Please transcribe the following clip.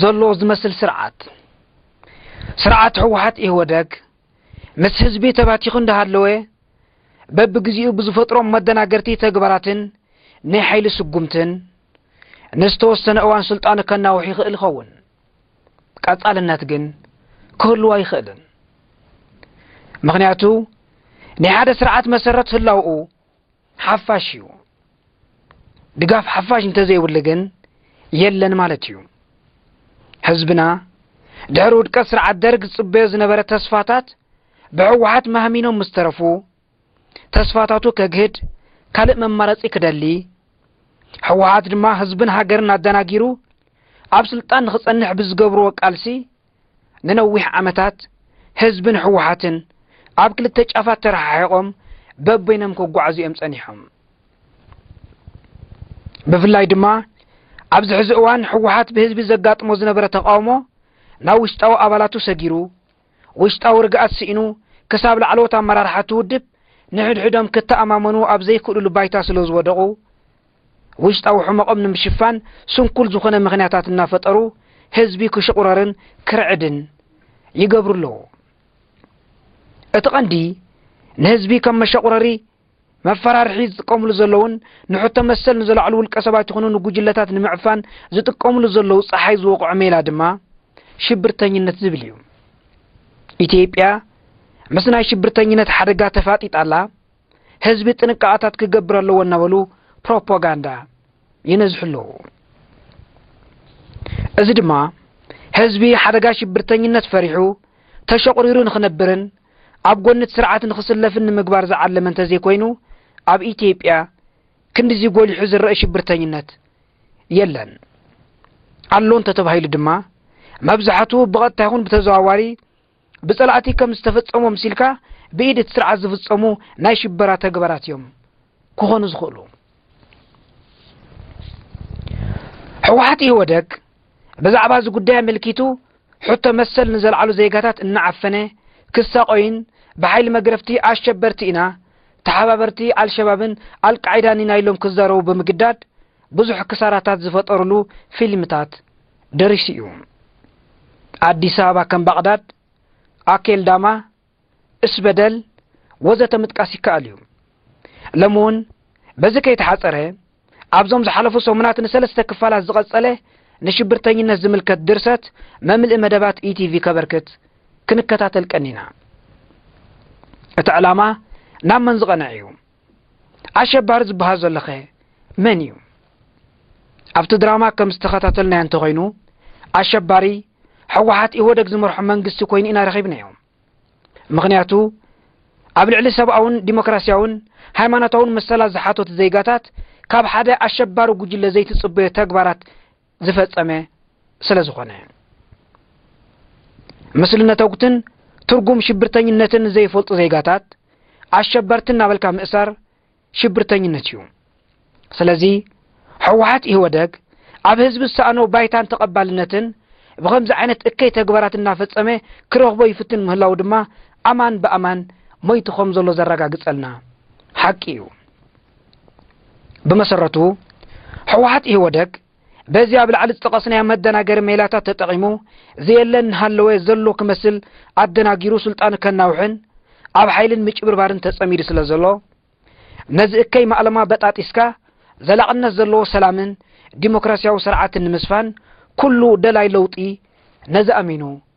ዘሎ ዝመስል ስርዓት ስርዓት ህወሓት ኢህወደግ ምስ ህዝቢ ተባቲኹ እንዳሃለወ በብግዜኡ ብዝፈጥሮም መደናገርቲ ተግባራትን ናይ ሓይሊ ስጉምትን ንዝተወሰነ እዋን ስልጣኑ ከናውሕ ይኽእል ይኸውን። ቀጻልነት ግን ክህልዎ ኣይኽእልን። ምክንያቱ ናይ ሓደ ስርዓት መሰረት ህላውኡ ሓፋሽ እዩ። ድጋፍ ሓፋሽ እንተዘይብሉ ግን የለን ማለት እዩ። ህዝብና ድሕሪ ውድቀት ስርዓት ደርግ ዝፅበዮ ዝነበረ ተስፋታት ብሕወሓት ማህሚኖም ምስ ተረፉ ተስፋታቱ ከግህድ ካልእ መማረፂ ክደሊ ሕወሓት ድማ ህዝብን ሃገርን ኣደናጊሩ ኣብ ስልጣን ንክፀንሕ ብዝገብርዎ ቃልሲ ንነዊሕ ዓመታት ህዝብን ህወሓትን ኣብ ክልተ ጫፋት ተረሓሒቖም በበይኖም ክጓዓዙ እዮም ጸኒሖም። ብፍላይ ድማ ኣብዚ ሕዚ እዋን ህወሓት ብህዝቢ ዘጋጥሞ ዝነበረ ተቃውሞ ናብ ውሽጣዊ ኣባላቱ ሰጊሩ ውሽጣዊ ርግኣት ስኢኑ ክሳብ ላዕለዎት ኣመራርሓ ትውድብ ንሕድሕዶም ክተኣማመኑ ኣብ ዘይክእሉሉ ባይታ ስለ ዝወደቑ ውሽጣዊ ሕመቖም ንምሽፋን ስንኩል ዝኾነ ምኽንያታት እናፈጠሩ ህዝቢ ክሽቑረርን ክርዕድን ይገብሩ ኣለዉ። እቲ ቐንዲ ንህዝቢ ከም መሸቑረሪ መፈራርሒ ዝጥቀምሉ ዘለውን ንሕቶ መሰል ንዘላዕሉ ውልቀ ሰባት ይኹኑ ንጉጅለታት ንምዕፋን ዝጥቀምሉ ዘለዉ ፀሓይ ዝወቕዖ ሜላ ድማ ሽብርተኝነት ዝብል እዩ። ኢትዮጵያ ምስ ናይ ሽብርተኝነት ሓደጋ ተፋጢጣ ኣላ። ህዝቢ ጥንቃቐታት ክገብር ኣለዎ እናበሉ ፕሮፓጋንዳ ይነዝሑ ኣለዉ። እዚ ድማ ህዝቢ ሓደጋ ሽብርተኝነት ፈሪሑ ተሸቑሪሩ ንኽነብርን ኣብ ጎኒ እቲ ስርዓት ንኽስለፍን ንምግባር ዝዓለመ እንተዘይኮይኑ ኣብ ኢትዮጵያ ክንዲዚ ጎሊሑ ዝረአ ሽብርተኝነት የለን። ኣሎ እንተተባሂሉ ድማ መብዛሕትኡ ብቐጥታ ይኹን ብተዘዋዋሪ ብጸላእቲ ከም ዝተፈጸሙ ምሲልካ ብኢድ እቲ ስርዓት ዝፍጸሙ ናይ ሽበራ ተግባራት እዮም ክኾኑ ዝኽእሉ ሕወሓት ኢህወደግ ብዛዕባ እዚ ጉዳይ ኣመልኪቱ ሕቶ መሰል ንዘልዓሉ ዜጋታት እናዓፈነ ክሳቆይን ብሓይሊ መግረፍቲ ኣሸበርቲ ኢና ተሓባበርቲ ኣልሸባብን ኣልቃዒዳን ኢና ኢሎም ክዛረቡ ብምግዳድ ብዙሕ ክሳራታት ዝፈጠርሉ ፊልምታት ደሪሱ እዩ። ኣዲስ ኣበባ ከም ባቕዳድ፣ ኣኬልዳማ፣ እስበደል ወዘተ ምጥቃስ ይከኣል እዩ። ሎሚ እውን በዚ ከይተሓፀረ ኣብዞም ዝሓለፉ ሰሙናት ንሰለስተ ክፋላት ዝቐፀለ ንሽብርተኝነት ዝምልከት ድርሰት መምልኢ መደባት ኢቲቪ ከበርክት ክንከታተል ቀኒና። እቲ ዕላማ ናብ መን ዝቐንዕ እዩ? ኣሸባሪ ዝበሃል ዘሎኸ መን እዩ? ኣብቲ ድራማ ከም ዝተኸታተልናዮ እንተኾይኑ ኣሸባሪ ሕወሓት ኢህወደግ ዝመርሖ መንግስቲ ኮይኑ ኢና ረኺብናዮ። ምኽንያቱ ኣብ ልዕሊ ሰብኣውን ዲሞክራሲያውን ሃይማኖታውን መሰላት ዝሓተቱ ዜጋታት ካብ ሓደ ኣሸባሪ ጉጅለ ዘይትጽበዮ ተግባራት ዝፈጸመ ስለ ዝኾነ ምስሊ ነተጉትን ትርጉም ሽብርተኝነትን ዘይፈልጡ ዜጋታት ኣሸበርቲ እናበልካ ምእሳር ሽብርተኝነት እዩ ስለዚ ሕወሓት ኢህወደግ ኣብ ህዝቢ ዝሰኣኖ ባይታን ተቐባልነትን ብኸምዚ ዓይነት እከይ ተግባራት እናፈጸመ ክረኽቦ ይፍትን ምህላው ድማ ኣማን ብኣማን ሞይቱ ከም ዘሎ ዘረጋግጸልና ሓቂ እዩ ብመሰረቱ ሕወሓት ኢህወደግ በዚ ኣብ ላዕሊ ዝጠቐስናዮ መደናገሪ ሜላታት ተጠቒሙ ዘየለ እናሃለወ ዘሎ ክመስል ኣደናጊሩ ስልጣኑ ከናውሕን ኣብ ሓይልን ምጭብርባርን ተጸሚዱ ስለ ዘሎ ነዚ እከይ ማእለማ በጣጢስካ ዘላቕነት ዘለዎ ሰላምን ዲሞክራሲያዊ ስርዓትን ንምስፋን ኩሉ ደላይ ለውጢ ነዚ ኣሚኑ